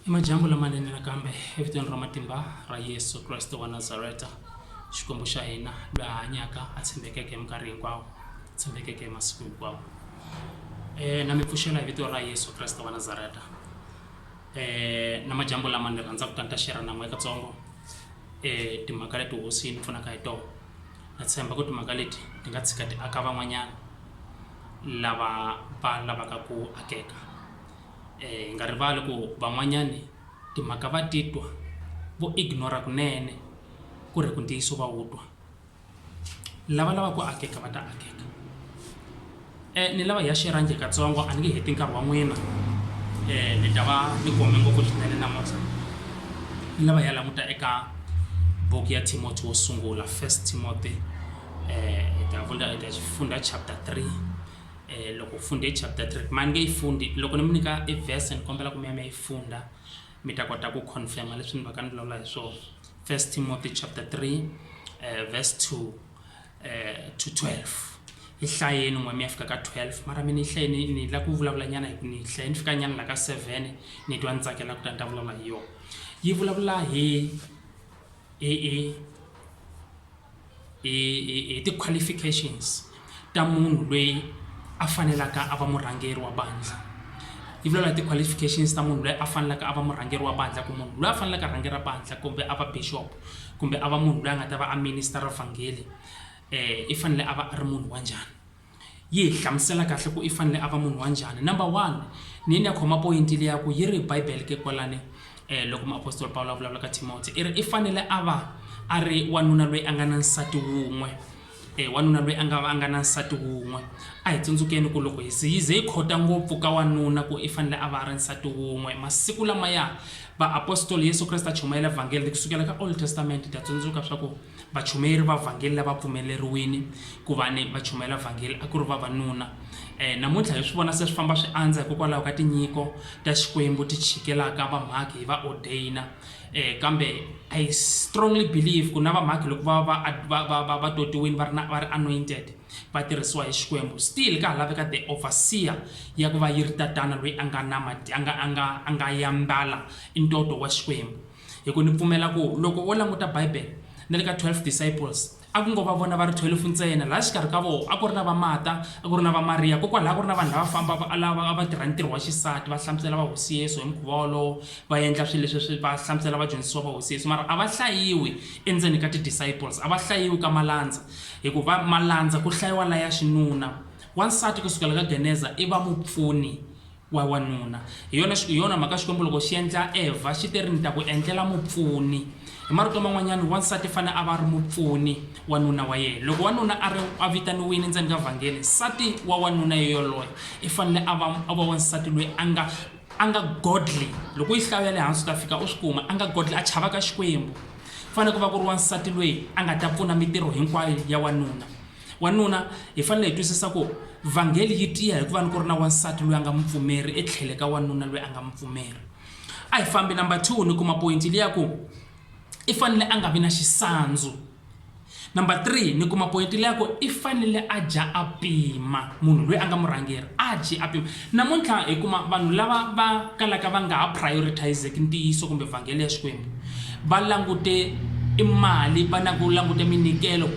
I majambu lamanene nakambe evitweni ra matimba ra Yesu Kreste wa Nazareta, Xikwembu xa hina loyi a hanyaka a tshembekeke minkarhi hinkwawo, tshembekeke masiku hinkwawo. Eh, na mi pfuxela hi vito ra Yesu Kreste wa Nazareta. Eh, na majambu lama ni rhandza ku ta ni ta share na n'we katsongo eh, timhaka leti hosi yi ni pfunaka hi tona. na tshemba ku timhaka leti ti nga tshika ti aka van'wanyana lava va lavaka ku akeka um hi nga rivali ku van'wanyani timhaka va titwa vo ignore-a kunene ku ri hi ku ntiyiso va wu twa lava lava ku akeka va ta akeka. Eh, ni lava hi ya xirhange katsongo a ni nge heti nkarhi wa n'wina eh, ni ta va ni kome ngopfu swinene namuntlha ni lava hi ya languta eka buku ya timoti wo sungula first timoti eh, hi ta vunda hi ta funda chapter 3 eh, loko u funde chapter 3 ma ni nge yi fundi loko ni mi nyika i verse ni kombela ku mi ya mi ya yi funda mi ta kota ku confirma leswi ni va ka ni vulavula hi swona first timoti chapter 3 eh, verse 2 eh, to 12 hi hlayeni n'we mi ya fika ka 12 mara mi ni hlaye ni ni la ku vulavula nyana hi ku ni hlaye ni fika nyana la ka 7 ni twa ni tsakela ku ta ni ta vulavula hi yona yi vulavula hi hi hi hi ti-qualifications ta munhu loyi a fanelaka a va murhangeri wa bandla yi vulavula hi ti-qualifications ta munhu loyi a fanelaka a va murhangeri wa bandla ku munhu loyi a fanelaka a rhangera bandla kumbe a va bishop kumbe a va munhu loyi a nga ta va a minister-a vhangele i fanele a va a ri munhu wa njhani yi hi hlamusela kahle ku i fanele a va munhu wa njhani number one ni ni ya khoma poyinti leyi ya ku yi ri bibele ke kwalani um loko muapostoli pawulo a vulavula ka timoti i ri i fanele a va a ri wanuna loyi a nga na nsati wun'we E wanuna loyi a nga va a nga na nsati wun'we. A hi tsundzukeni ku loko hi ze hi ze hi khota ngopfu ka wanuna ku i fanele a va a ri nsati wun'we, masiku lamaya vaapostoli Yesu Kreste a chumayela vhangeli ri ku sukela ka Old Testament hi ta tsundzuka swa ku vachumeri va vhangeli lava pfumeleriwini ku va ni va chumayela vhangeli a ku ri vavanuna. E namuntlha hi swi vona se swi famba swi andza hikokwalaho ka tinyiko ta Xikwembu ti chikelaka vamhakhi hi va odeyina. eh kambe i strongly believe ku na vamhakhi loko va va va va va va totiwini va ri na va ri anointed va tirhisiwa hi xikwembu still ka ha laveka the overseer ya ku va yi ri tatana loyi a nga na mati a nga a nga a nga yambala i ntoto wa xikwembu hi ku ni pfumela ku loko wo languta bible na le ka 12 disciples A ku ngo va vona va ri thwelufu ntsena. Laha xikarhi ka vona a ku ri na va Mata, a ku ri na va Mariya, kokwalaho a ku ri na vanhu lava fambaka a lava a va tirha ntirho wa xisati, va hlamusela va Hosi Yesu hi mukhuva wolowo, va endla swilo leswi va hlamusela vadyondzisiwa va Hosi Yesu. Mara a va hlayiwi endzeni ka ti-disciples, a va hlayiwi ka malandza, hikuva malandza ku hlayiwa la ya xinuna. Wansati ku sukela ka Geneza i va mupfuni. wa wanuna hi yona hi yona mhaka xikwembu loko xi endla evha xi te ri ni ta ku endlela mupfuni hi marito man'wanyana wansati fane a va ri mupfuni wanuna wa yena loko wanuna a ri a vitaniwile ndzeni ka vhangeli nsati wa wanuna yeyoloye i fanele a va a va wansati loyi a nga a nga godly loko yi hlawu ya le hansi u ta fika u swi kuma a nga godly a chavaka xikwembu fanele ku va ku ri wansati loyi a nga ta pfuna mitirho hinkwayo ya wanuna Wanuna, hi fanele hi twisisa ku vhangeli yi tiya hi ku va ni ku ri na wansati loyi a nga mupfumeri etlhele ka wanuna loyi a nga mupfumeri. A hi fambi number two ni kuma poyinti liya ku i fanele a nga vi na xisandzu. Number three ni kuma poyinti liya ku i fanele a dya a pima, munhu loyi a nga murhangeri a dyi a pima. Namuntlha hi kuma vanhu lava va kalaka va nga ha prioritise-ki ntiyiso kumbe vhangeli ya Xikwembu va langute i mali va na ku languta minyikelo,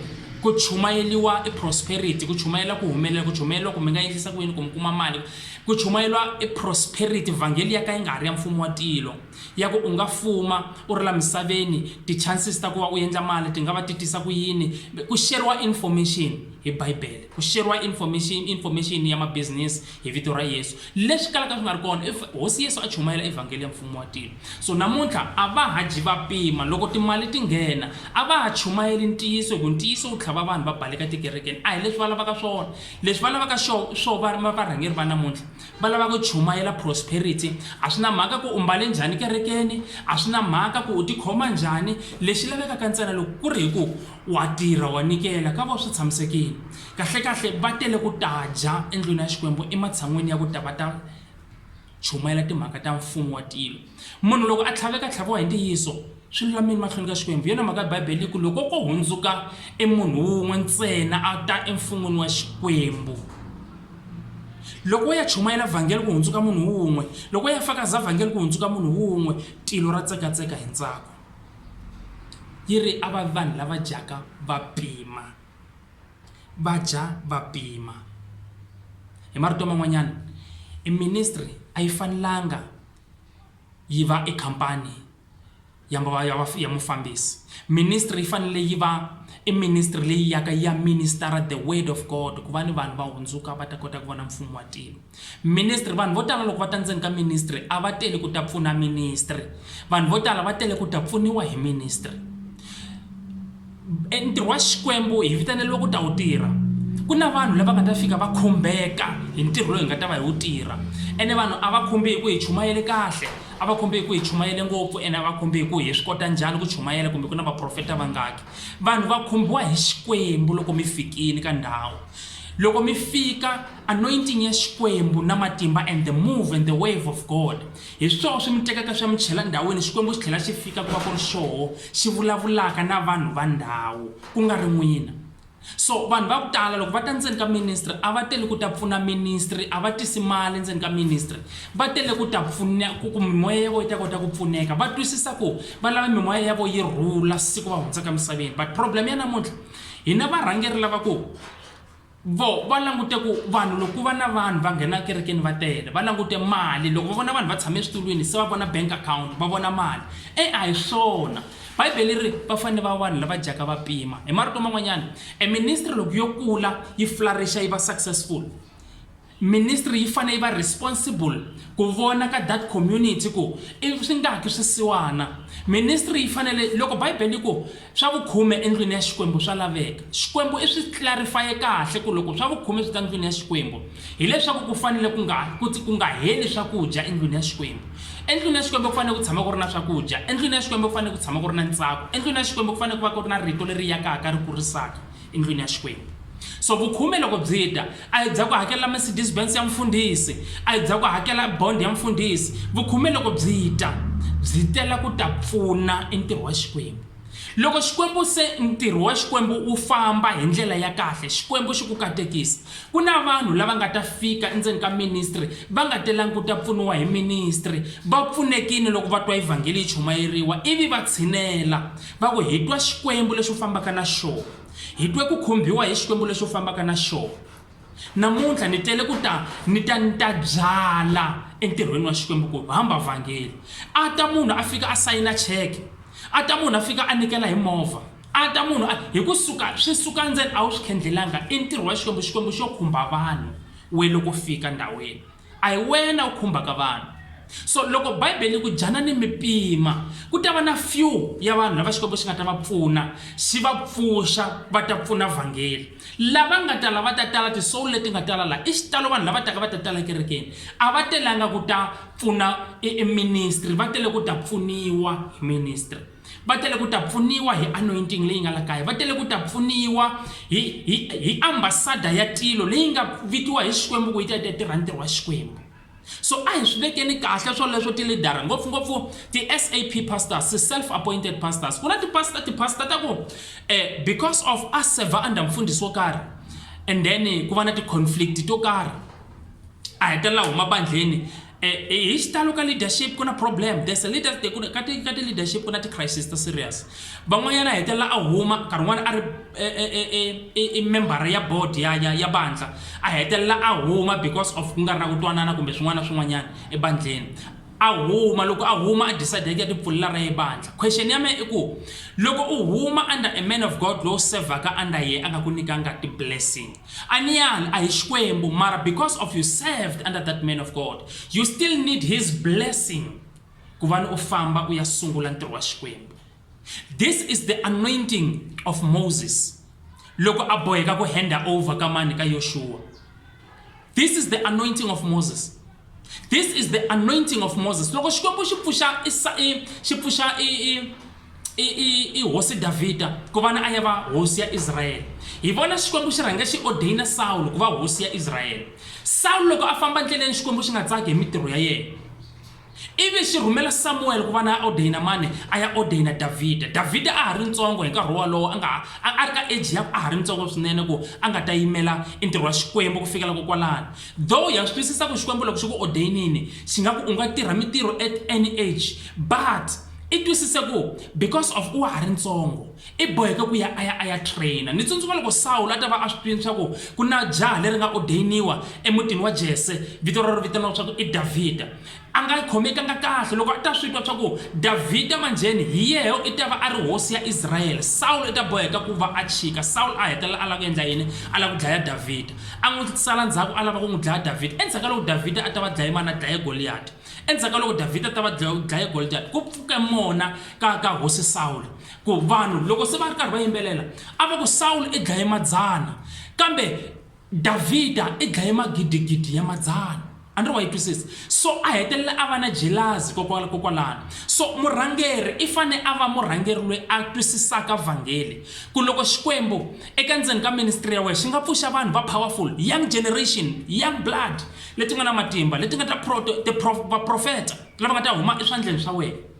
Ku chumayeliwa i prosperity, ku chumayela ku humelela, ku chumayeliwa ku mi nga endlisa ku yini ku mi kuma mali, ku chumayeliwa i prosperity, vhangeli ya ka yi nga ha ri ya mfumo wa tilo, ya ku u nga fuma u ri la misaveni, ti chances ta ku va u endla mali ti nga va ti tisa ku yini, ku sheriwa information hi Bibele, ku sheriwa information information ya ma business. hi vito ra Yesu. Leswi kalaka swi nga ri kona, if Hosi Yesu a chumayela evhangeli ya mfumo wa tilo. So namuntlha a va ha dyi va pima, loko timali ti nghena a va ha chumayeli ntiyiso hi ku ntiyiso wu tlhava vanhu va baleka tikerekeni. A hi leswi va lavaka swona. Leswi va lavaka xo swo va va varhangeri va namuntlha va lava ku chumayela prosperity. A swi na mhaka ku u mbale njhani kerekeni, a swi na mhaka ku u tikhoma njhani, lexi lavekaka ntsena loko ku ri hi ku wa tirha wa nyikela ka vo swi tshamisekile. Kahle-kahle va tele ku ta dya endlwini ya Xikwembu ematshan'weni ya ku ta va ta chumayela timhaka ta mfumo wa tilo. Munhu loko a tlhaveka tlhaviwa hi ntiyiso, swi lulamile mahlweni ka Xikwembu. Hi yona mhaka Bibele yi ku loko ko hundzuka emunhu wun'we ntsena a ta emfun'wini wa Xikwembu, loko ya chumayela vhangeli ku hundzuka munhu wun'we, loko ya fakaza vhangeli ku hundzuka munhu wun'we, tilo ra tsekatseka hi ntsako. Yi ri a va vanhu lava dyaka va pima. va dya va pima. Hi marito man'wanyana i ministry a yi fanelanga yi va i khampani ya ya mufambisi. Ministry yi fanele yi va i ministry leyi yaka ya minister-a the word of God ku va ni vanhu va hundzuka va ta kota ku vona mfumo wa tilo. Ministry, Vanhu vo tala loko va ta ndzeni ka ministry a va teli ku ta pfuna ministry. Vanhu vo tala va tele ku ta pfuniwa hi ministry. E ntirho wa Xikwembu hi vitaneriwe ku ta wu tirha. Ku na vanhu lava nga ta fika va khumbeka hi ntirho lowu hi nga ta va hi wu tirha. Ene vanhu a va khumbi hi ku hi chumayele kahle, a va khumbi hi ku hi chumayele ngopfu ene a va khumbi hi ku hi swi kota njhani ku chumayela kumbe ku na vaprofeta vangaki. Vanhu va khumbiwa hi Xikwembu loko mi fikile ka ndhawu. Loko mi fika, Anointing ya Xikwembu na matimba and the move and the wave of God. Hi swoho swi mi tekaka swi ya mi chela ndhawini Xikwembu xi tlhela xi fika ku va ku ri xoho xi vulavulaka na vanhu va ndhawu ku nga ri n'wina. So vanhu va ku tala loko va ta ndzeni ka ministry a va tele ku ta pfuna ministry a va tisi mali ndzeni ka ministry va tele ku ta pfuna ku ku mimoya ya vona yi ta kota ku pfuneka va twisisa ku va lava mimoya ya vona yi rhula siku va hundzaka emisaveni but problem ya namuntlha hina varhangeri lava ku Vo va langute ku vanhu loko ku va na vanhu va nghena ekerekeni va tele va langute mali loko va vona vanhu va tshame eswitulwini se va vona bank account va vona mali e a hi swona bibele ri va fanele va vanhu lava dyaka va pima hi marito man'wanyana e ministry loko yo kula yi flourisha yi va successful Ministry yi fane yi va responsible ku vona ka that community ku i swi nga ki swisiwana. Ministry yi fanele loko Bibele yi ku swa vukhume endlwini ya Xikwembu swa laveka, Xikwembu i swi clarify-e kahle ku loko swa vukhume swi ta ndlwini ya Xikwembu hileswaku ku fanele ku nga ku ku nga heli swakudya endlwini ya Xikwembu. Endlwini ya Xikwembu ku fanele ku tshama ku ri na swakudya, endlwini ya Xikwembu ku fanele ku tshama ku ri na ntsako, endlwini ya Xikwembu ku fanele ku va ku ri na rito leri yakaka ri kurisaka. endlwini ya Xikwembu. So vukhume loko byi ta, a hi bya ku hakelela Mercedes Benz ya mfundhisi, a hi bya ku hakela bond ya mfundhisi. Vukhume loko byi ta, byi tela ku ta pfuna e ntirho wa Xikwembu. Loko Xikwembu se ntirho wa Xikwembu wu famba hi ndlela ya kahle, Xikwembu xi ku katekisa, ku na vanhu lava nga ta fika endzeni ka ministry va nga telangi ku ta pfuniwa hi ministry, va pfunekile loko va twa evhangeli yi chumayeriwa ivi va tshinela. Va ku, Hi twa Xikwembu lexi u fambaka na xona. Hi twe ku khumbiwa hi Xikwembu lexi u fambaka na xona. Namuntlha ni tele ku ta ni ta ni ta byala entirhweni wa Xikwembu ku hamba vhangeli. A ta munhu a fika a sayina cheke, a ta munhu a fika a nikela hi movha, a ta munhu a hi ku suka swi suka ndzeni a wu swi khendlelanga i ntirho wa Xikwembu, Xikwembu xo khumba vanhu we loko fika ndhawini. A hi wena u khumbaka vanhu. So loko Bibele yi ku dyanani mi pima, ku ta va na few ya vanhu lava Xikwembu xi nga ta va pfuna xi va pfuxa va ta pfuna vhangeli. Lava nga ta la va ta tala, ti-soul leti nga tala la i xitalo vanhu lava taka va ta tala ekerekeni a va telanga ku ta pfuna e ministry va tele ku ta pfuniwa hi ministry. va tele ku ta pfuniwa hi anointing leyi nga la kaya va tele ku ta pfuniwa hi hi hi ambasada ya tilo leyi nga vikiwa hi xikwembu ku yi ta yi ta tirha ntirho wa xikwembu so a hi swi vekeni kahle swoleswo tilidara ngopfungopfu ti-sap pastors ti-self appointed pastors ku na tipasta tipasta ta ku um because of a server under mfundhisi wo karhi and then ku va na ti-conflict to karhi a hetelela huma bandleni Eh, eh, hi xitalo ka leadership ku na problem there's a leader ka ti ka ti leadership ku na ti-crisis ta serious van'wanyana a hetelela a huma nkarhi wun'wana a ri eh, i membara ya board ya ya ya bandla a hetelela a huma because of ku nga ri na ku twanana kumbe swin'wana na swin'wanyana ebandleni a huma loko a huma a decide ya tipfulela ra ye bandla question ya mehe i ku loko u huma under a man of god lowu sevhaka under ye a nga ku nyikanga ti-blessing Aniyali a hi Xikwembu mara because of you served under that man of God you still need his blessing ku va ni u famba u ya sungula ntirho wa Xikwembu. This is the anointing of Moses loko a boheka ku handa over ka mani ka Yoshua. This is the anointing of Moses this is the anointing of moses loko xikwembu xi pfuxa xi pfuxa i hosi davhida ku va ni a ya va hosi ya israyele hi vona xikwembu xi rhange xi ordaina sawulo ku va hosi ya israyele sawulo loko a famba ndleleni xikwembu xi nga tsaki hi mitirho ya yena ivi xi rhumela samuwele ku va na ordaina mani a ya ordaina davhida davhida a ha ri ntsongo hi nkarhi wolowo a nga a ri ka eji ya a ha ri ntsongo swinene ku a nga ta yimela i ntirho wa xikwembu ku fikela kokwalani Though ha swi twisisa ku Xikwembu loko xi ku ordainini xi nga ku u nga tirha mitirho at any age but i twisise ku because of u wa ha ri ntsongo i boheke ku ya a ya a ya trainer ni tsundzuka loko sawulo a ta va a swi twini swa ku ku na jaha leri nga ordainiwa emutini wa jese vito rero vitaniwa swa ku i davhida A nga yi khomekanga kahle loko a ta swi twa swa ku Davhida manjheni hi yehe i ta va a ri hosi ya Israyele. Sawulo i ta boheka ku va a chika. Sawulo a hetelela a lava ku endla yini? A lava ku dlaya Davhida. A n'wi sala ndzhaku a lava ku n'wi dlaya Davhida. Endzhaku ka loko Davhida a ta va dlaye mani? A dlaye Goliyati. Endzhaku ka loko Davhida a ta va dlaye Goliyati, ku pfuke mona ka, ka hosi Sawulo. Ku vanhu loko se va ri karhi va yimbelela, a va ku, Sawulo i dlaye madzana. Kambe, Davhida i dlaye magidigidi ya madzana. A ni ri wa yi twisisa? So a hetelela a va na jelazi kokwalano. So murhangeri i fane a va murhangeri loyi a twisisaka vhangeli ku loko Xikwembu eka ndzeni ka ministry ya wehe xi nga pfuxa vanhu va powerful, young generation, young blood leti nga na matimba leti nga ta vaprofeta lava nga ta huma eswandleni swa wehe.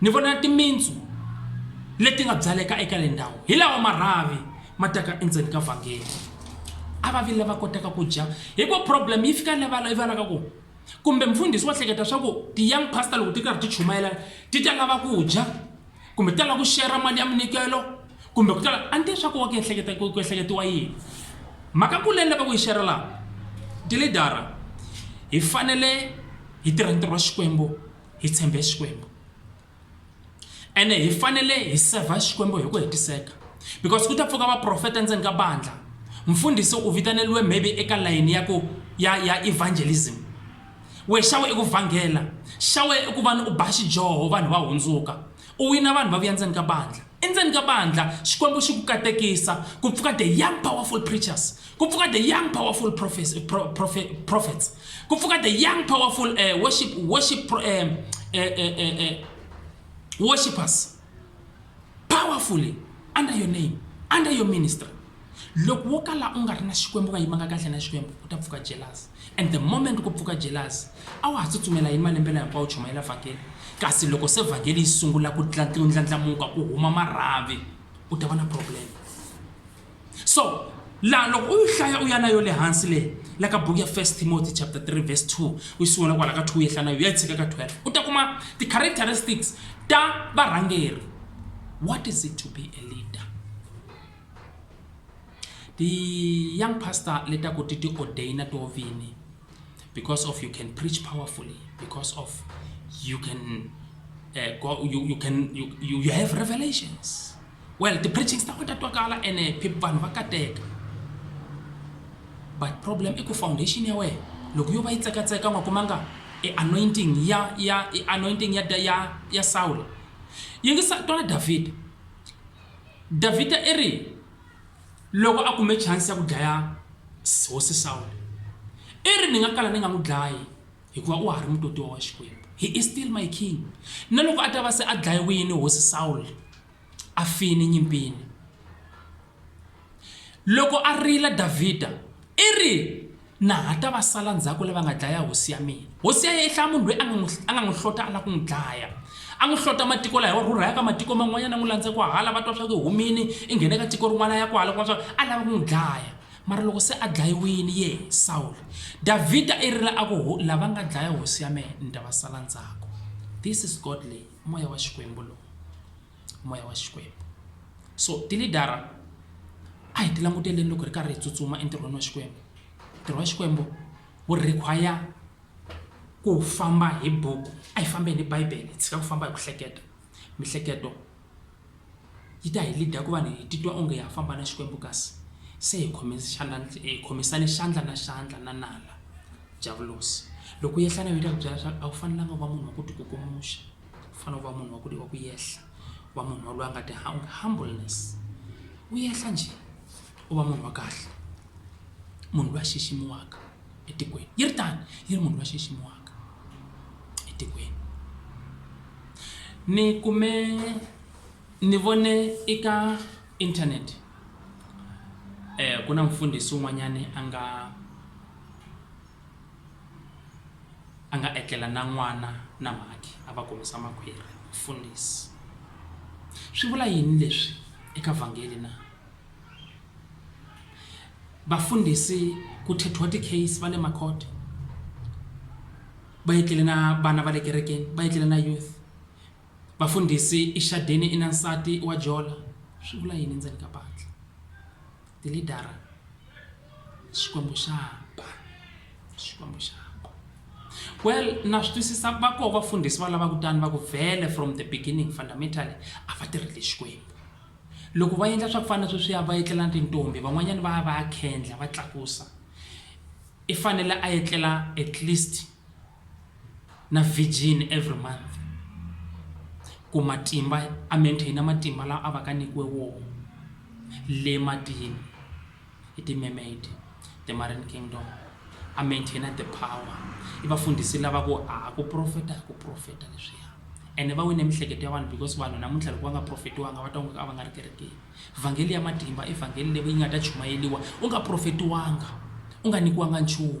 Ni vona timintsu leti nga byaleka eka le ndhawu hi lawa marhavi ma taka endzeni ka vhangeri a va vi lava kotaka ku dya hi ku problem yi fika levala yi valaka ku kumbe mfundhisi wa hleketa swa ku ti-young pastor loko ti karhi ti chumayela ti ta lava ku dya kumbe ti ta lava ku shera mali ya minikelo kumbe ku tala a ni tivi swa ku wa ku ehleketa ku ehleketiwa yini mhaka ku leni lava ku yi shera laha tilidara hi fanele hi tirha ntirho wa xikwembu hi tshembe Xikwembu ene hi fanele hi sevha Xikwembu hi ku hetiseka because ku ta pfuka vaprofeta endzeni ka bandla mfundhisi u vitaneliwe maybe eka layini ya ku ya ya evangelism we xawe i ku vhangela xawe i ku vana u ba xidyoho vanhu va hundzuka U wina vanhu va vuya ndzeni ka bandlha. Endzeni ka bandlha, Xikwembu xi ku katekisa, ku pfuka the young powerful preachers, ku pfuka the young powerful prophets, eh, pro, prophe, prophets, ku pfuka the young powerful uh, worship, worship, pro, uh, uh, uh, uh, uh, worshippers, powerfully under your name, under your ministry. Loko wo kala u nga ri na Xikwembu u nga yimanga kahle na Xikwembu ku ta pfuka jealous and the moment ku pfuka jealous a wa ha tsutsumela hi malembe laha hinkwawo u chumayela vhangeli kasi loko se vhangeli yi sungula ku ndlandlamuka ku huma marhavi u ta va na problem so laha loko u yi hlaya u ya na yo le hansi leyi la ka buku ya first timothy chapter 3 verse 2 u yi sungula kwala ka 2 u yehla na yo ya yi tshika ka 12 u ta kuma ti-characteristics ta varhangeri what is it to be a leader ti-young pastor le ta ku ti ti-ordaina to vini because of you can preach powerfully because of you can uh, go, you, you can you, you, you have revelations well ti-preachings ta ku ta twakala ene vanhu va kateka but problem i ku foundation ya wena loko yo va yi tsekatseka nga kumanga anointing ya ya anointing ya ya ya Saul yingisa twana David davhida i ri loko a kume chansi ya ku dlaya hosi sawule i ri ni nga kala ni nga n'wi dlayi hikuva u ha ri mutotiwa wa xikwembu he is still my king na loko a ta va se a dlayiwini hosi sawule a fini nyimpini Loko a rila, Davhida i ri, Na ha ta va sala ndzhaku lava nga dlaya hosi ya mina? Hosi ya yena i hlaya munhu loyi a nga n'wi a nga n'wi hlota a lava ku n'wi dlaya. A n'wi hlota matiko laha wa rhurha ya ka matiko man'wanyana a n'wi landza kwahala va twa swa ku i humile i nghene ka tiko rin'wana ya kwahala kuma swa a lava ku n'wi dlaya mara loko se a dlayiwile ye Sawulo Davhida i rila a ku lava nga dlaya hosi ya mehe ni ta va sala ndzhaku this is godly moya wa xikwembu lowu moya wa Xikwembu. So tilidara a hi ti languteleni loko hi ri karhi hi tsutsuma entirhweni wa Xikwembu. Ntirho wa Xikwembu wu require ku famba hi buku, a hi fambeni hi Bibele hi tshika ku famba hi ku hleketa. Miehleketo yi ta hi lead-a ku va hi titwa onge ha famba na Xikwembu kasi se hi hi khomisane xandla na xandla na nala, Diyavulosi. Loko u yehla na yena u ta ku byela leswaku a wu fanelanga u va munhu wa ku tikukumuxa. u fanele u va munhu wa ku wa ku yehla wa munhu wa loyi a nga ti humbleness u yehla njhe u va munhu wa kahle munhu loyi a xiximiwaka etikweni yi ri tano yi ri munhu loyi a xiximiwaka etikweni ni kume ni vone eka internet ku na mfundhisi un'wanyani a nga. a nga etlela na n'wana na mhakhi a va kumisa makhwiri mfundisi swi vula yini leswi eka vhangeli na vafundhisi ku thethiwa ti-case va le makhote va etlele na vana va le kerekeni va etlele na youth Vafundhisi, i xadeni i na nsati wa jola swi vula yini ndzeni ka bandlha? Tilidara, Xikwembu xa ba, Xikwembu xa ba. Well, na swi twisisa va koho vafundhisi va lava kutani va ku vhele from the beginning fundamentally a va tirheli Xikwembu. Loko va endla swa ku fana sweswiya va etlela na tintombi van'wanyana va ya va ya khendla va tlakusa i fanele a etlela at least na virgin every month ku matimba a maintain matimba lawa a va ka nyikiwe wona le matini hi ti-mermaid the marine kingdom a maintain the power i vafundhisi lava ku a ku profeta ku profeta leswiya ene va wine mihleketo ya vanhu because vanhu namuntlha loko va nga profetiwanga va ta n'wi a va nga ri kerekeni vhangeli ya matimba i vhangeli leyi yi nga ta chumayeriwa u nga profetiwanga u nga nyikiwanga nchumu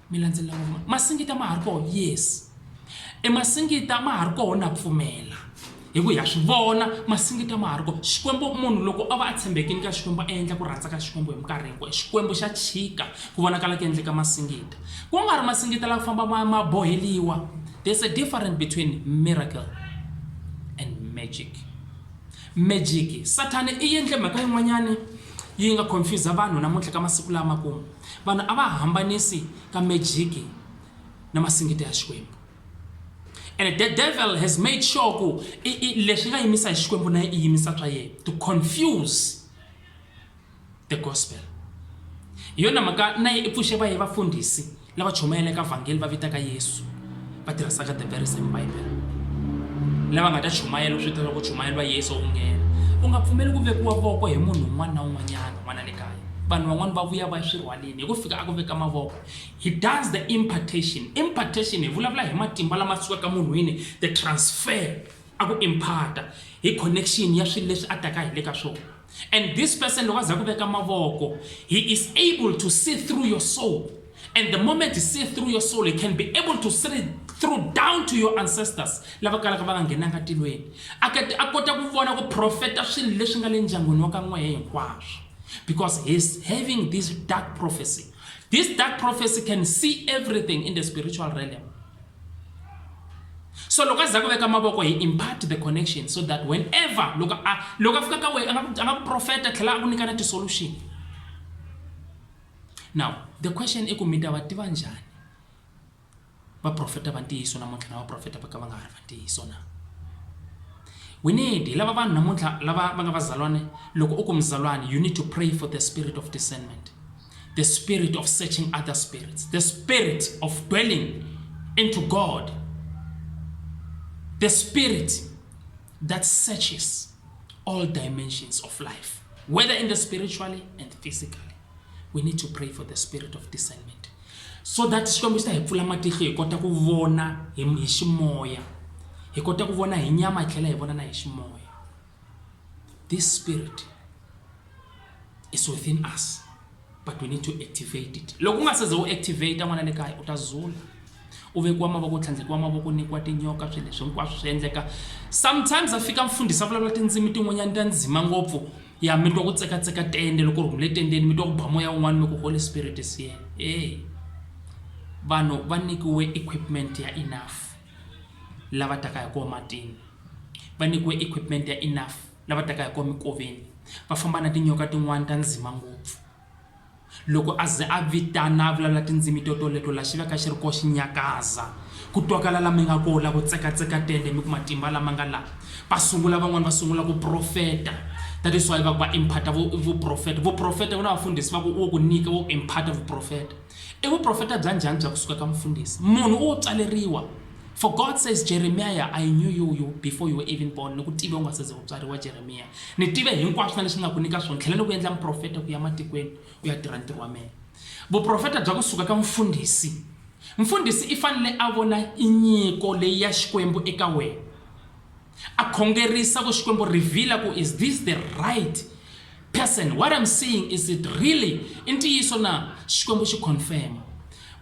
mi landzelela ngopfu masingita ma ha ri kona yes e masingita ma ha ri kona na pfumela hi ku ya swi vona masingita ma ha ri kona xikwembu munhu loko a va a tshembekini ka xikwembu a endla ku rhandza ka xikwembu hi minkarhi hinkwayo xikwembu xa chika ku vonakala ku endleka masingita ku nga ri masingita la ku famba ma ma boheliwa there's a difference between miracle and magic magic sathane i endle mhaka yin'wanyani yi nga confuse vanhu namuntlha ka masiku lama kumu Vanhu a va hambanisi ka mejiki na masingita ya Xikwembu. And the devil has made sure ku leswi nga yimisa hi Xikwembu na i yimisa swa yena to confuse the gospel. Hi yona mhaka na yi i pfuxe va ye vafundhisi lava chumayelaka vhangeli va vitaka Yesu. va tirhisaka the very same bible lava nga ta chumayela swi tiva ku chumayeriwa yesu u nghena u nga pfumeli ku vekiwa voko hi munhu un'wana na un'wanyana n'wana le kaya vanhu van'wana va vuya va swi rhwaleni hi ku fika a ku veka mavoko he does the impartation impartation hi vulavula hi matimba lama sukaka munhwini the transfer a ku imparta hi connection ya swilo leswi a taka hi le ka swona and this person loko a za ku veka mavoko he is able to see through your soul and the moment he see through your soul he can be able to see through down to your ancestors lava kalaka va nga nghenanga tilweni a kota ku vona ku profeta swilo leswi nga le ndyangwini wa ka n'wehe hinkwaswo because he's having this dark prophecy this dark prophecy can see everything in the spiritual realm so loko a za ku veka mavoko hi impart the connection so that whenever loko a loko a fika ka wena a nga ku profeta tlhela a ku nyika na ti-solution now the question i ku mi ta va tiva njhani vaprofeta va ntiyiso namuntlha na vaprofeta va ka va nga ha ri va ntiyiso na we need hi lava vanhu namuntlha lava va nga vazalwane loko u ku muzalwane you need to pray for the spirit of discernment the spirit of searching other spirits, the spirit of dwelling into God, the spirit that searches all dimensions of life, whether in the spiritually and physically. We need to pray for the spirit of discernment. So that xikwembu xi ta hi pfula matihlo hi kota ku vona hi ximoya hi kota ku vona hi nyama hi tlhela hi vona na hi ximoya This spirit is within us but we need to activate it loko u nga seze u activate n'wana le kaya u ta zula u vekiwa mavoko u tlhandlekiwa mavoko nikiwa tinyoka swilo leswi hinkwaswo swi endleka sometimes a fika mfundhisa vulavula tindzimi tin'wanyana ta ndzima ngopfu ya mi twa ku tsekatseka tende loko ri humule tendeni mi twa ku ba moya wun'wana mi ku holy spirit is here e vanhu va nyikiwe equipment ya enough lava taka hi koho matini, va nyikiwe equipment ya enough lava taka hi koho minkoveni, va famba na tinyoka tin'wana ta ndzima ngopfu. Loko a ze a vitana a vulavula tindzimi to toleto la xi va ka xi ri koho xi nyakaza, ku twakala la mi nga koho la ku tsekatseka tende mi ku matimba lama nga la, va sungula van'wana va sungula ku profeta that is why va ku va imparter vu vu profeta, vu profeta ku na vafundhisi va ku wo ku nyika wo imparter vu profeta. I vuprofeta bya njhani bya kusuka ka mufundhisi? Munhu u tswaleriwa. For God says, Jeremiah, I knew you, you before you were even born. Ni ku tive u nga se ze u tswariwa, Jeremiya. Ni tive hinkwaswo na leswi ni nga ku nyika swona. Tlhela loko u endla muprofeta ku ya matikweni u ya tirha ntirho wa mehe. Vuprofeta bya kusuka ka mufundhisi. Mfundhisi i fanele a vona nyiko leyi ya Xikwembu eka wena. A khongerisa ku Xikwembu revealer ku is this the right person what I'm seeing is it really i ntiyiso na? Xikwembu xi confirm.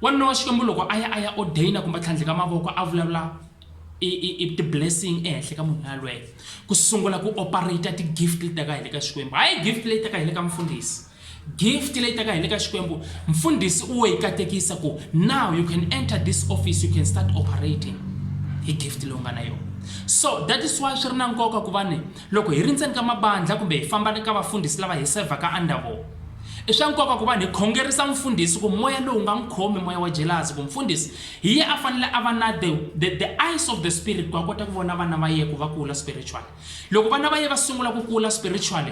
Wanuna wa Xikwembu loko a ya a ya ordainer kumbe a tlhandleka mavoko a vulavula i i i ti blessing ehenhla ka munhu loyi yalweyo ku sungula ku operator ti gift leti taka hi le ka Xikwembu hayi gift leyi taka hi le ka mufundhisi. Gift leyi taka hi le ka Xikwembu, mfundhisi u wo yi katekisa ku, Now you can enter this office, you can start operating. Hi gift leyi u nga na yona. So that is why swi ri na nkoka ku va ni loko hi ri ndzeni ka mabandlha kumbe hi famba ni ka vafundhisi lava hi sevhaka under vona, i swa nkoka ku va ni hi khongerisa mfundhisi ku moya lowu nga n'wi khomi, moya wa jelasi, ku mfundhisi hi ye a fanele a va na the, the, the eyes of the spirit ku a kota ku vona vana va ye ku va kula spiritually. Loko vana va ye va sungula ku kula spiritually,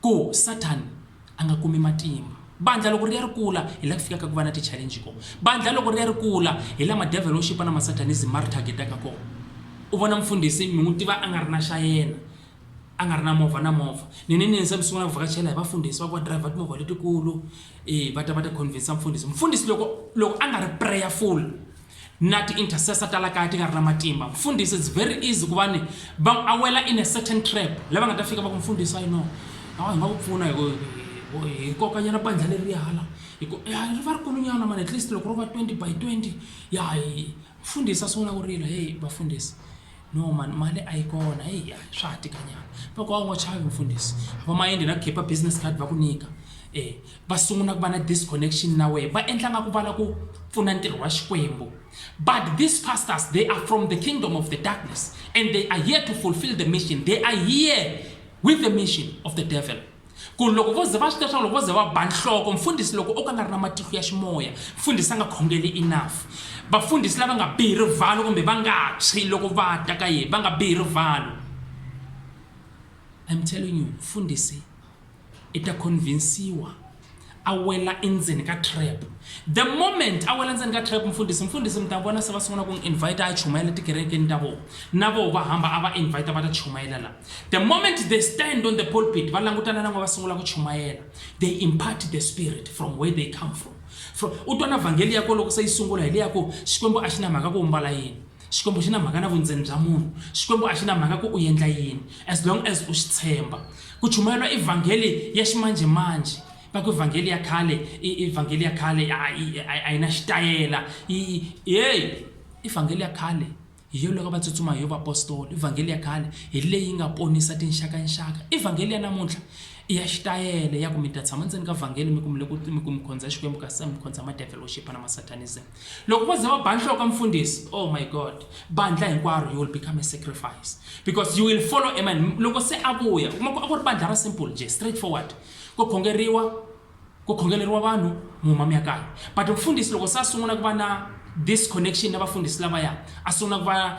ku Sathana a nga kumi matimba. Bandlha loko ri ya ri kula hi la ku fikaka ku va na ti-challenge kona. Bandlha loko ri ya ri kula hi la madevhelo yo xipa na masatanism ma ri target-aka kona. U vona mfundhisi mi n'wi tiva a nga ri na xa yena, a nga ri na movha na movha ninini se mi sungula ku vhakachela hi vafundhisi va ku va driver timovha letikulu e va ta va ta convince mfundhisi mfundhisi loko loko a nga ri prayerful na ti intercessor ta la kaya ti nga ri na matimba mfundhisi it's very easy ku va ni va a wela in a certain trap lava nga ta fika va ku mfundhisi i know awa hi nga ku pfuna hi ku- hi- hi kokanyana bandla leri ya hala hi ku ya ri va ri kulunyana mani at least loko ro va 20 by 20 ya hi mfundhisi a sungula ku rila heyi vafundhisi no mani mali a yi kona heyi a swa ha tika nyana va ku a wu nga chavi mfundhisi va mayende na khipa business card va ku nyika um va sungula ku va na disconnection na wehe va endla nga ku va la ku pfuna ntirho wa xikwembu but these pastors they are from the kingdom of the darkness and they are here to fulfill the mission they are here with the mission of the devil ku loko vo ze va swi tiva swa loko vo ze va ba nhloko mfundhisi loko o ka nga ri na matihlo ya ximoya mfundhisi a nga khongeli enough vafundhisi lava nga bihi rivalo kumbe va nga tshwi loko va ta ka yena va nga bihi rivalo I'm telling you mfundhisi i ta convinsiwa a wela endzeni ka trap the moment a wela endzeni ka trap mfundhisi mfundhisi mi ta vona se va sungula ku n'wi invite a chumayela tikerekeni ta vona na voho va hamba a va invite va ta chumayela la the moment they stand on the pulpit va langutana na n'we va sungula ku chumayela they impart the spirit from where they come from from u twa na vhangeli ya ko loko se yi sungula hi leya ku xikwembu a xi na mhaka ku u mbala yini Xikwembu axi na mhaka na vundzeni bya munhu. Xikwembu axi na mhaka ku u yendla yini as long as u xi tshemba. Ku chumayeriwa i vhangeli ya ximanje manje. Va ku i vhangeli ya khale i i vhangeli ya khale a i a yi na xitayela i hey i vhangeli ya khale hi yo loko va tsutsuma hi yo vapostoli i vhangeli ya khale hi leyi nga ponisa tinxaka nxaka i vhangeli ya namuntlha i ya xitayele ya ku mi ta tshama ndzeni ka vhangeli mi ku mi le ku mi ku mi khondza Xikwembu kasi se mi khondza ma devil worship na ma satanism. Loko vo za va ba nhloko ka mufundhisi, oh my God, bandlha hinkwaro you will become a sacrifice because you will follow a man. Loko se a vuya, u kuma ku a ku ri bandlha ra simple njhe, straight forward, ko khongeriwa, ko khongeleriwa vanhu, mi huma mi ya kaya. But mufundhisi loko se a sungula ku va na this connection na vafundhisi lavaya, a sungula ku va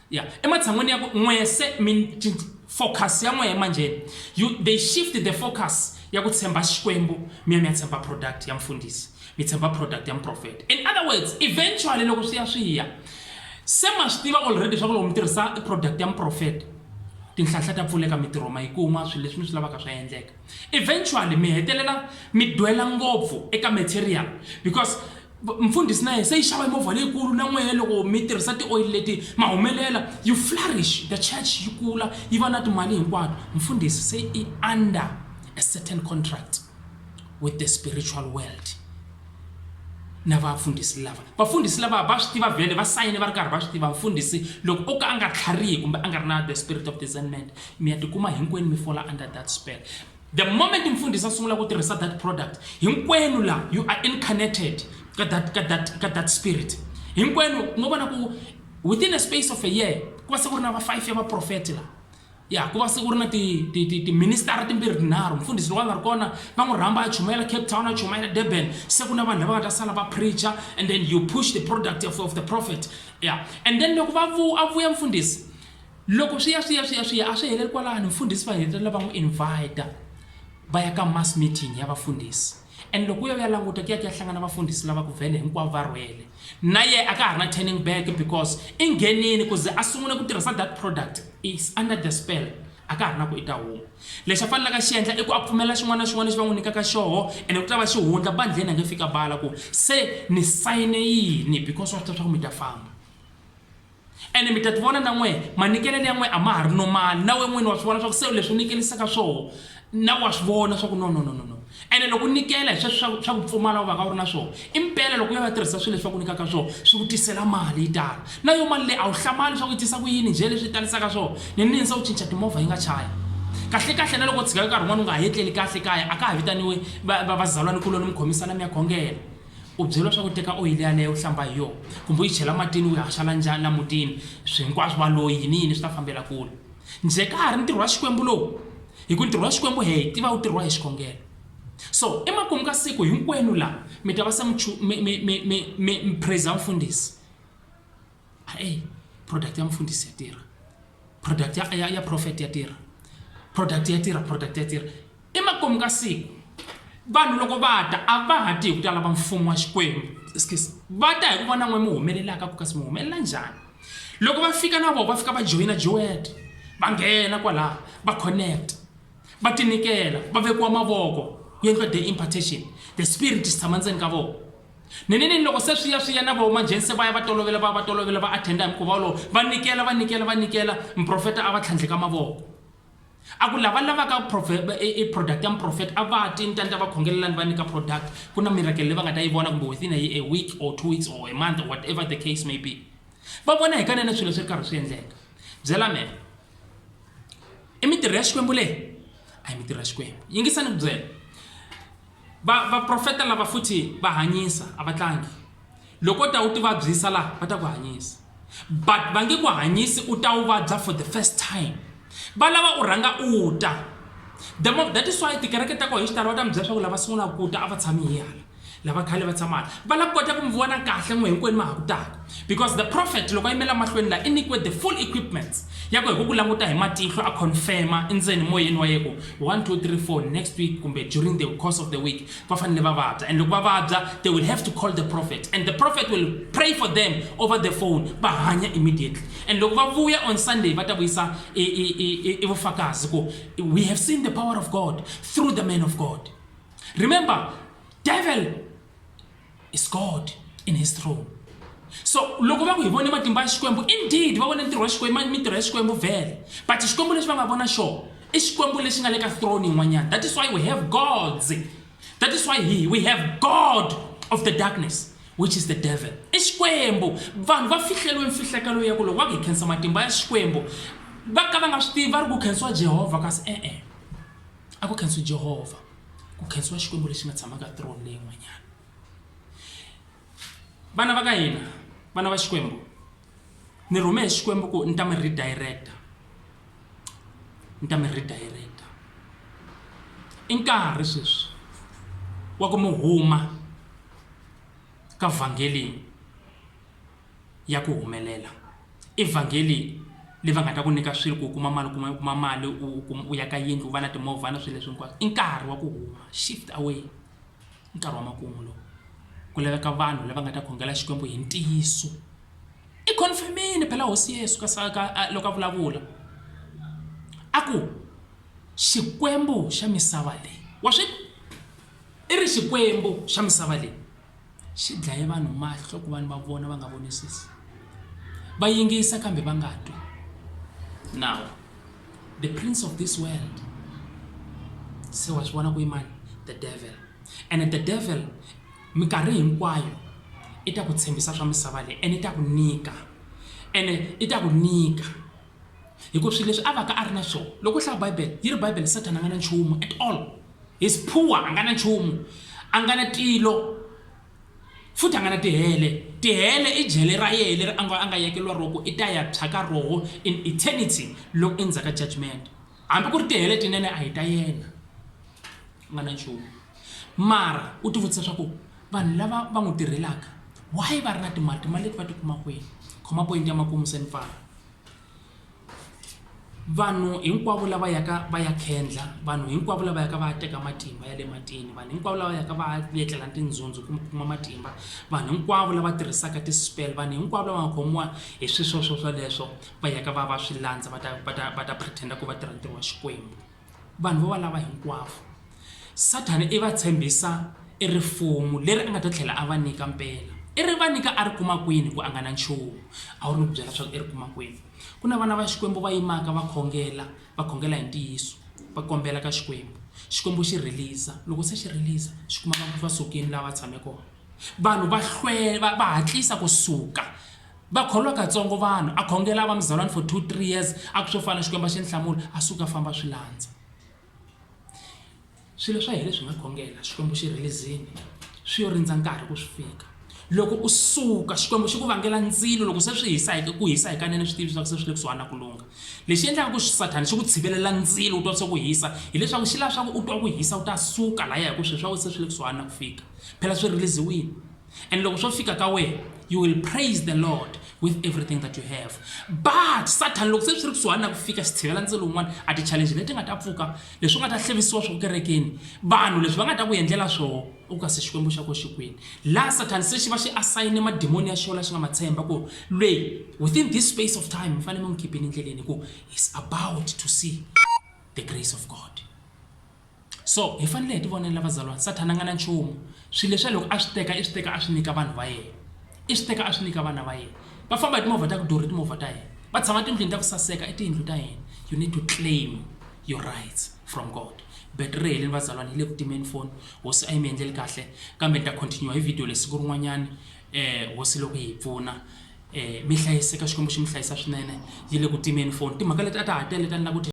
ya ematshan'wini ya ku n'we se focus ya n'wehe manjheni you they shift the focus ya ku tshemba xikwembu mi ya mi ya tshemba product ya mfundhisi mi tshemba product ya muprofeta in other words eventually loko swi ya swi ya se ma swi tiva already swa ku loko mi tirhisa product ya muprofeta tinhlanhla ta pfuleka mitirho ma yi kuma swilo leswi mi swi lavaka swa endleka Eventually mi hetelela mi dwela ngopfu eka material because mfundhisi na yena se yi xava movha leyikulu na n'wehe loko mi tirhisa tioyili leti ma humelela you flourish the church yi kula yi va na timali hinkwato mfundhisi se i under a certain contract with the spiritual world na vafundhisi lava vafundhisi lava va swi tiva vhele va sayine va ri karhi va swi tiva mfundhisi loko o ka a nga tlharihi kumbe a nga ri na the spirit of discernment Miya tikuma hinkwenu mi fola under that spell. The moment mfundhisi a sungula ku tirhisa that product, hinkwenu la you are incarnated ka that, ka that, ka that spirit. Hinkwenu ngo vona ku within a space of a year ku va se ku ri na va five ya vaprofeti la ya ku va se ku ri na tiministara timbirhi tinharhu mfundhisi loko a nga ri kona va n'wi rhamba a chumayela cape town a chumayela durban se ku na vanhu lava nga ta sala va preacher and then you push the product of, of the prophet ya and then loko va vu a vuya mfundhisi Loko swi ya swi ya swi ya swi ya a swi heleli kwalano mfundhisi va hetelela va n'wi invita va ya ka mass meeting ya vafundhisi and loko u ya u ya languta ku ya ku ya hlangana vafundhisi lava ku vhele hinkwavo va rhwele na ye a ka ha ri na turning back because i nghenini ku ze a sungula ku tirhisa that product is under the spell a ka ha ri na ku i ta huma lexi a fanelaka xi endla i ku a pfumela xin'wana na xin'wana lexi va n'wi nyikaka xoho ene ku ta va xi hundla bandleni a nge fika bala ku se ni sayine yini because wa swi tiva swa ku mi ta famba ene mi ta tivona na n'we manikelelo ya n'we a ma ha ri nomali na we n'wini wa swi vona swa ku se leswi u nikelisaka swona na wa swi vona swa ku no no no no no ene loko u nikela hi sweswi swa ku pfumala u va ka u ri na swona i mpela loko u ya va tirhisa swilo leswi va ku nyikaka swona swi ku tisela mali yi tala na yo mali leyi a wu hlamali leswaku yi tisa ku yini njhe leswi yi talisaka swona ni nini se u cinca timovha yi nga chayi kahle kahle na loko u tshika nkarhi wun'wana u nga ha etleli kahle kaya a ka ha vitaniwe vazalwanikuloni mi khomisana mi ya khongela U byeriwa swa ku teka oyili yaleyo u hlamba hi yona kumbe u yi chela matini u yi haxala njhani la mutini swi hinkwaswo va loyi yini yini swi ta fambela kule njhe ka ha ri ntirho wa xikwembu lowu hi ku ntirho wa xikwembu he hi tiva wu tirhiwa hi xikhongelo so emakumu ka siku hinkwenu la mi ta va se mi mi mi mi mi mi praise mfundhisi ae product ya mfundisi ya tirha product ya, ya, ya prophet ya tirha product ya tirha product ya tirha emakumu ka siku vanhu loko va ta a va ha ti hi ku ta lava mfumo wa xikwembu excuse va ta hi ku vona n'we mi humelelaka ku kasi mi humelela njhani loko va fika na vona va fika va joyina joet va nghena kwalaha va connect va tinikela va vekiwa mavoko ku endliwa the impartation the spirit xi tshama ndzeni ka vona Ninini loko se swi ya swi ya na vo manjheni se va ya va tolovela va ya va tolovela va attenda hi mukhuva wolowo va nikela va nikela va nikela muprofeta a va tlhandleka mavoko a ku lava lavaka i product ya muprofeta a va ti ntanta va khongelelani va nyika product ku na miracle leyi va nga ta yi vona kumbe within a week or two weeks or a month or whatever the case may be va vona hi kanene swilo swi ri karhi swi endleka byela me i mitirho ya xikwembu leyi a yi mitirho ya xikwembu yingisani ku byela Va, vaprofeta lava futhi va hanyisa, a va tlangi. Loko ta u ti vabyisa laha, va ta ku hanyisa. But va nge ku hanyisi u ta u vabya for the first time. Va lava u rhanga u ta. The more, that is why tikereke ta ko hi xitalo va ta mi byela swa ku lava sungulaka ku ta a va tshami hi hala. Lava khale va tshama hala. Va lava kota ku mi vona kahle n'we hinkwenu ma ha ku taka. because the prophet loko a yimela mahlweni laha i nyikiwe the full equipments ya ku hi ku ku languta hi matihlo a confirma endzeni moyeni wa yeku 1 2 3 4 next week kumbe during the course of the week va fanele va vabya and loko va vabya they will have to call the prophet and the prophet will pray for them over the phone va hanya immediately and loko va vuya on sunday va ta vuyisa i vufakazi ku we have seen the power of god through the man of god remember devil is God in his throne. So loko va ku hi vone matimba ya Xikwembu, indeed va vone ntirho wa Xikwembu, mintirho ya Xikwembu vele. But Xikwembu lexi va nga vona xona i Xikwembu lexi nga le ka throne yin'wanyana. That is why we have gods. That is why he, we have God of the darkness which is the devil i xikwembu vanhu va fihleriwe mfihlekelo ya ku loko va ku hi khensa matimba ya xikwembu va ka va nga swi tivi va ri ku khensiwa jehovha kasi e-e a ku khensiwi jehovha ku khensiwa xikwembu lexi nga tshamaka throne leyin'wanyana vana va ka hina vana va xikwembu ni rhume hi xikwembu ku ni ta mi redirecta ni ta mi redirecta i nkarhi sweswi wa ku mi huma ka vhangelini ya ku humelela i vhangeli leyi va nga ta ku nyika swilo ku kuma mali kuma kuma mali u kuma u ya ka yindlu u va na timovha na swilo leswi hinkwaswo i nkarhi wa ku huma shift away nkarhi wa makumu lowu ku laveka vanhu lava nga ta khongela xikwembu hi ntiyiso i confirm-ini phela hosi Yesu ka sa ka loko a vulavula a ku xikwembu xa misava leyi wa swi i ri xikwembu xa misava leyi. xi dlaye vanhu mahlo ku vanhu va vona va nga vonisisi va yingisa kambe va nga twi now the prince of this world se wa swi vona ku imani the devil and the devil minkarhi hinkwayo i ta ku tshembisa swa misava leyi and i ta ku nyika ene i ta ku nyika hikuva swilo leswi a va ka a ri na swona loko u hlaya bibele yi ri bibele sathana a nga na nchumu at all his poor a nga na nchumu a nga na tilo futhi a nga na tihele tihele i jele ra yehe leri a nga a nga yekeriwa roko i ta ya tshaka roho in eternity loko endzhaku ka judgment hambi ku ri tihele tinene a hi ta yena u nga na nchumu mara u tivutisa swa ku vanhu lava va n'wi tirhelaka why va ri na timali timali leti va ti kuma kwini khoma point ya makumu se ni pfala vanhu hinkwavo lava yaka va ya khendla vanhu hinkwavo lava yaka va ya teka matimba ya le matini vanhu hinkwavo lava yaka va ya etlela tindzhundzu ku kuma matimba vanhu hinkwavo lava tirhisaka ti-spell vanhu hinkwavo lava nga khomiwa hi swi swo swo swoleswo va yaka va va swi landza va ta va ta va ta pretend-a ku va tirha ntirho wa xikwembu vanhu va va lava hinkwavo. Sathana i va tshembisa e rifumu leri a nga ta tlhela a va nyika mpela. I ri va nyika a ri kuma kwini ku a nga na nchumu? A wu ri ni ku byela leswaku i ri kuma kwini? Ku na vana va Xikwembu va yimaka va khongela, va khongela hi ntiyiso, va kombela ka Xikwembu, Xikwembu xi rhiliza, loko se xi rhiliza xi kuma vanhu va sukile laha va tshame kona. Vanhu va va hatlisa ku suka. Va kholiwa katsongo vanhu, a khongela a va muzalwani for two, three years, a ku swo fana Xikwembu a xi ni hlamuli, a suka a famba a swi landza. Swilo swa hina leswi hi nga khongela Xikwembu xi release-ini, swi yo rindza nkarhi ku swi fika. Loko u suka Xikwembu xi ku vangela ndzilo loko se swi hisa hi ku hisa hikanene swi tivi leswaku se swi le kusuhani na ku lungha. Lexi endlaka ku Sathana xi ku tshivelela ndzilo u twa se ku hisa hileswaku xi lava swaku u twa ku hisa u ta suka lahaya hi ku swilo swa wena se swi le kusuhani na ku fika, phela swi release-iwini. and loko swo fika ka wena you will praise the lord with everything that you have but satan loko se swi ri kusuhani na ku fika xitshivela ndzi lowun'wana a ti-challenge leti nga ta pfuka leswi nga ta hlevisiwa swo kerekeni vanhu leswi va nga ta ku endlela swoho u ka se xikwembu xa ko xikwini laha satan se xi va xi asayine madimoni ya xona xi nga ma tshemba ku lweyi within this space of time mi fanele mi n'wi khiphini endleleni hi ku he's about to see the grace of god So hi fanele hi ti vonela vazalwana Sathana a nga na nchumu, swilo leswiya loko a swi teka i swi teka a swi nyika vanhu va yena, i swi teka a swi nyika vana va yena. Va famba hi timovha ta ku durha i timovha ta hina, va tshama tindlwini ta ku saseka i tiyindlu ta hina. You need to claim your rights from God. Battery ri helile vazalwana yi le ku timeni foni, hosi a yi mi endleli kahle kambe ni ta continue hi video leyi siku rin'wanyana um hosi loko yi hi pfuna. Um mi hlayiseka Xikwembu xi mi hlayisa swinene, yi le ku timeni foni. Timhaka leti a ta ha tele ta ni lava ku ti.